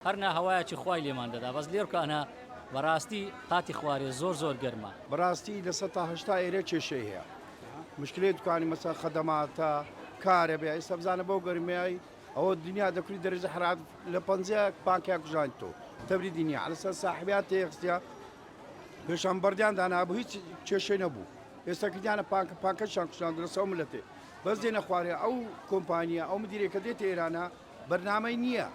هەر نا هەوایەکی خوای لێمان دەدا بەس لێرکانە بەراستی قاتی خوارێ زۆر زۆر گەرمە. بەراستی لە سەد تا هەشتا ئێرە کێشەی هەیە مشکلەی دوکانی مەسەن خەدەماتە کارەبێ ئێستا بزانە بەو گەرمیای ئەوە دنیا دەکولی دەرەجە حەرارەت لە پەنجا بانکەیا کوژانی تۆ تەبری دنیا عەلە سەر ساحبیا تێخستیا پێشان بەردیان دانا بوو هیچ کێشەی نەبوو ئێستا کردیانە پانکە پانکەشان کوشان درەسەوە ملەتێ بەس دێنە خوارێ ئەو کۆمپانیا ئەو مدیرێکە دێتە ئێرانە بەرنامەی نیە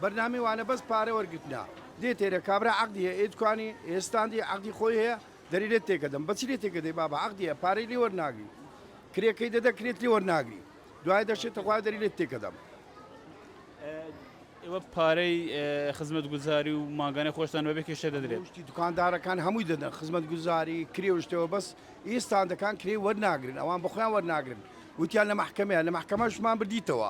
بەرنامی وانە بەس پارە وەرگرتنە. دێ تێرە کابرا عەقدی هەیە ئێ توانی ئێ ستاندی عەقدی خۆی هەیە دەری لێت تێکەدەم بەچی لێ تێکەدەی بابە عەقدی هەیە پارەی لێ وەرناگری کرێ کەی دەدە کرێت لێ وەرناگری دوای دەشێ تخوا دەری لێت تێکەدەم. ئێوە پارەی خزمەت گوزاری و مانگانەی خۆشتان بەبێ کێشە دەدرێت. شتی دوکاندارەکان هەمووی دەدەن خزمەت گوزاری کرێ و شتەوە بەس ئی ستاندەکان کرێ وەرناگرن ئەوان بەخۆیان وەرناگرن وتیان لە مەحکەمەیە لە مەحکەمەشمان بردیتەوە.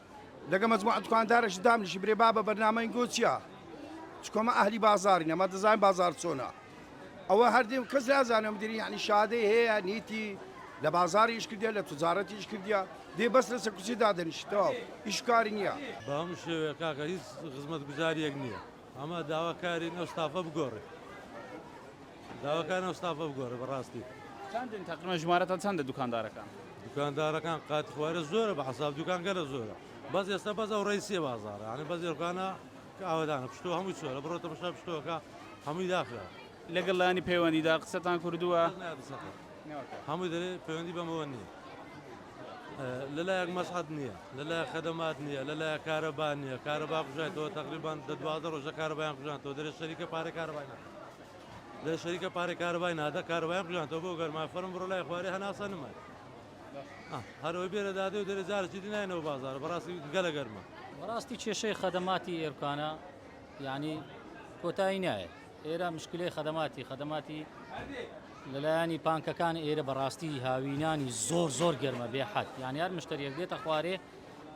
لەگە مەجموعە دوکاندارەش دامنیشی برێ بابە بەرنامەی گۆ چیە چکۆمە ئەهلی بازاری نەمە دەزانین بازار چۆنە ئەوە هەردیم کەس نازانم دیری یعنی شادەی هەیە نیتی لە بازاریش کردە لە تجارەتیش کردە دێ بەس لەسە کوچی دادەنیشتەوە ئیشکاری نییە بەم شێوەیە کاکە هیچ خزمەت گوزاریەک نییە. ئەمە داوا کارین ئەو ستافە بگۆڕێ داوا کارین ئەو ستافە بگۆڕێ بەڕاستی. چەندن تەقریبەن ژمارەتان چەندە دوکاندارەکان؟ دوکاندارەکان قاتی خوارێ زۆرە بە حەساب دوکان گەلە زۆرە بەس ئێستا بەس ئەو ڕیسیە بازارە یانی بەس ئێوکانە کە ئاوەدانە پشتوە هەمووی چۆلە بڕۆ تەمەشا پشتوەکە هەمووی داخرا لەگەڵ لانی پەیوەندیدار قسەتان کردووە؟ کەس نایە قسەکە هەمووی دەرێ پەیوەندی بەمەوە نییە. لەلایەک مەسعەد نییە لەلایەک خەدەمات نییە لەلایە کارەبا نییە کارەبا کوژایتەوە تقریبان دە دوازدە ڕۆژە کارەبایان کوژانەوە دەێ شەریکە پارە کارەبای ناکە دە شەریکە پارە کارەبای نادە کارەبایان کوژانەوە بۆ گەرما فەرم بڕۆ لای خوارێ هەناسە نمای هەرەوەی بێرە دادێ و دەێ جارچی دینایەوە بازار بەڕاستی گەلە گەرمە بەڕاستی کێشەی خەدەماتی ئێرکانە یعنی کۆتایی نایە ئێرە مشکلەی خەدەماتی خەدەماتی لەلایانی پانکەکان ئێرە بەڕاستی هاوینانی زۆر زۆر گەرمە بێ حەت یان یار مشتریەک دێتە خوارێ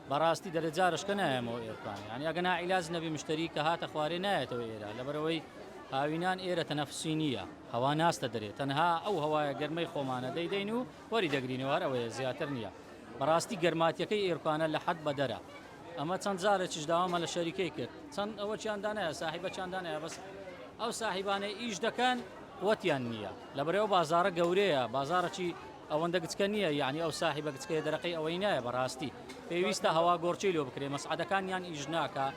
بەڕاستی دەرە جارشکە نایەمەوە ئێرکان یان یاگە ناعیلاز نەبی مشتری کە هاتە خوارێ نایەتەوە ئێرە لەبەرەوەی هاوینان ئێرە تەنەفسی نییە هەوا ناستە دەرێت تەنها ئەو هەوایە گەرمەی خۆمانە دەیدەین و وەری دەگرینەوەەر ئەوەیە زیاتر نییە بەڕاستی گەرماتیەکەی ئێرکانە لە حەد بەدەرە ئەمە چەند جارێکیش داوامە لە شەریکەی کرد چەند ئەوەکیان دانایە ساحیبەکیان دانایە بەس ئەو ساحیبانەی ئیش دەکەن وەتیان نییە لە بەرەوە بازارە گەورەیە بازارەکی ئەوەندە گچکە نییە یعنی ئەو ساحیبە گچکەیە دەرەقی ئەوەی نایە بەڕاستی پێویستە هەوا گۆڕچی لۆ بکرێ مەسعدەکان یان ئیش ناکە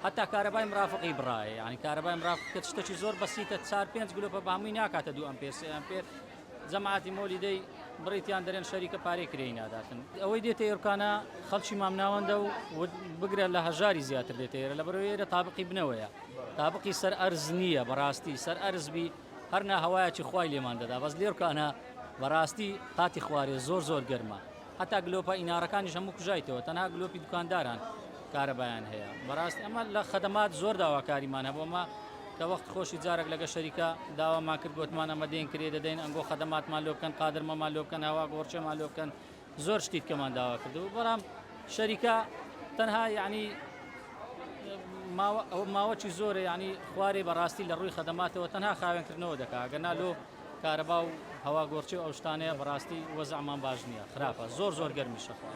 حتا کارەبای مرافقی بڕایە یعنی کارەبای مرافقکە شتەکی زۆر بەسیتە چار پێنج گلۆپە بەمووی ناکاتە دوو ئەمپێر سێ ئەمپێر جەماعەتی مۆلی دەی بڕیتیان دەرێن شەریکە پارەی کرێی ناداتن ئەوەی دێتە ئێرکانە خەڵکی مامناوەندە و بگرە لە هەژاری زیاتر دێتە ئێرە لە بەرەوەی ئێرە تابقی بنەوەیە تابقی سەر ئەرز نییە بەڕاستی سەر ئەرزبی هەرنا هەوایەکی خوای لێمان دەدا بەس لێرکانە بەڕاستی قاتی خوارێ زۆر زۆر گەرمە هەتا گلۆپە ئینارەکانیش هەموو کوژایتەوە تەنها گلۆپی دوکانداران کارەبایان هەیە بەڕاستی ئەمە لە خەدەمات زۆر داواکاریمان هەبوومە کە وەخت خۆشی جارێک لەگە شەریکە داوامان کرد گوتمان ئەمە دێن کرێ دەدەین ئەنگۆ خەدەماتمان لۆ بکەن قادرمەمان لۆ بکەن هەوا گۆڕچێمان لۆ بکەن زۆر شتی کەمان داوا کردو بەڵام شەریکە تەنها یعنی ماوەکی زۆرە ینی خوارێ بەڕاستی لە ڕووی خەدەماتەوە تەنها خاوێنکردنەوە دەکا گەنا لۆ کارەبا و هەوا گۆرچی و ئەو شتانەیە بەڕاستی وەزعمان باش نییە خراپە زۆر زۆر گەرمی شەخوات.